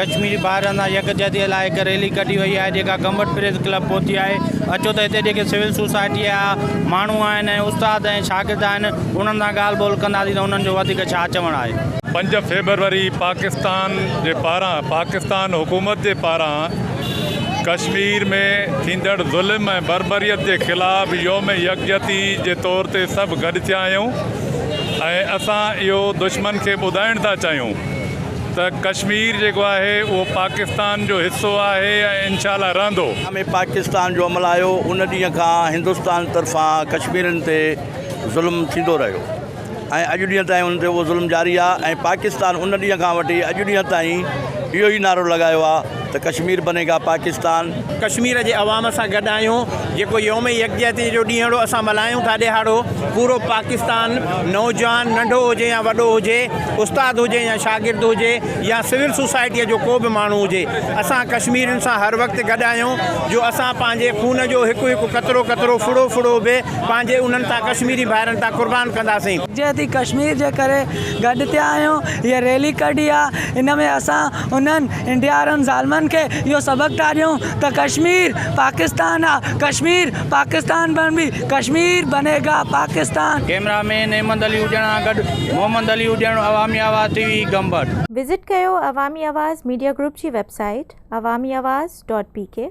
ڪشميري ڀائرن سان يڪجهتي لاء هڪ ريلي ڪڍي وئي آهي جيڪا گمبٽ پريس ڪلب پهتي آهي اچو ته هتي جيڪي سول سوسائٽي جا ماڻهو آهن ۽ استاد ۽ شاگرد آهن انهن سان ڳالهه ٻولهه ڪنداسين ته انهن جو وڌيڪ ڇا چوڻ آهي. پنج فيبروري پاڪستان جي پاران پاڪستان حڪومت جي پاران ڪشمير ۾ ٿيندڙ ظلم ۽ بربريت جي خلاف يوم يڪجهتي جي طور تي سڀ گڏ ٿيا آهيون ۽ اسان اهو دشمن کي ٻڌائڻ ٿا چاهيون ته ڪشمير جيڪو آهي اهو پاڪستان جو حصو آهي ۽ انشاء الله رهندو. ۾ پاڪستان جو عمل آيو ان ڏينهن کان هندستان طرفان ڪشميرين تي ظلم ٿيندو رهيو ۽ اڄ ڏينهن تائين انهن تي اهو ظلم جاري آهي ۽ پاڪستان ان ڏينهن کان وٺي اڄ ڏينهن تائين اهو ئي نعرو لڳايو آهي ته ڪشمير بني گا پاڪستان. ڪشمير جي عوام سان گڏ آهيون جيڪو يوم يڪجهتي جو ڏينهڙو اسان ملهايون ٿا ڏهاڙو پورو پاڪستان نوجوان ننڍو هجي يا وڏو هجي استاد هجي يا شاگرد هجي يا سول سوسائٽي جو ڪو به ماڻهو هجي اسان ڪشميرين سان هر وقت گڏ آهيون جو اسان پنهنجي خون جو هڪ هڪ قطرو قطرو ڦڙو ڦڙو به پنهنجي انهن تان ڪشميري ڀائرن تان قربان ڪنداسين. يڪجهتي ڪشمير جي ڪري گڏ ٿيا آهيون هيء ريلي ڪڍي آهي ان ۾ اسان انهن انڊيا وارن ظالمن کي اهو سبق ٿا ڏيون ته ڪشمير پاڪستان آ ڪشمير پاڪستان بڻ بي ڪشمير بني گا پاڪستان. ڪيمرا مين احمد علي اجڻا گڏ Muhammad Ali Ajan Awami Awaz T V Gambat. Visit ڪيو عوامي آواز ميڊيا گروپ جي web site Awami Awaz dot P ڪي.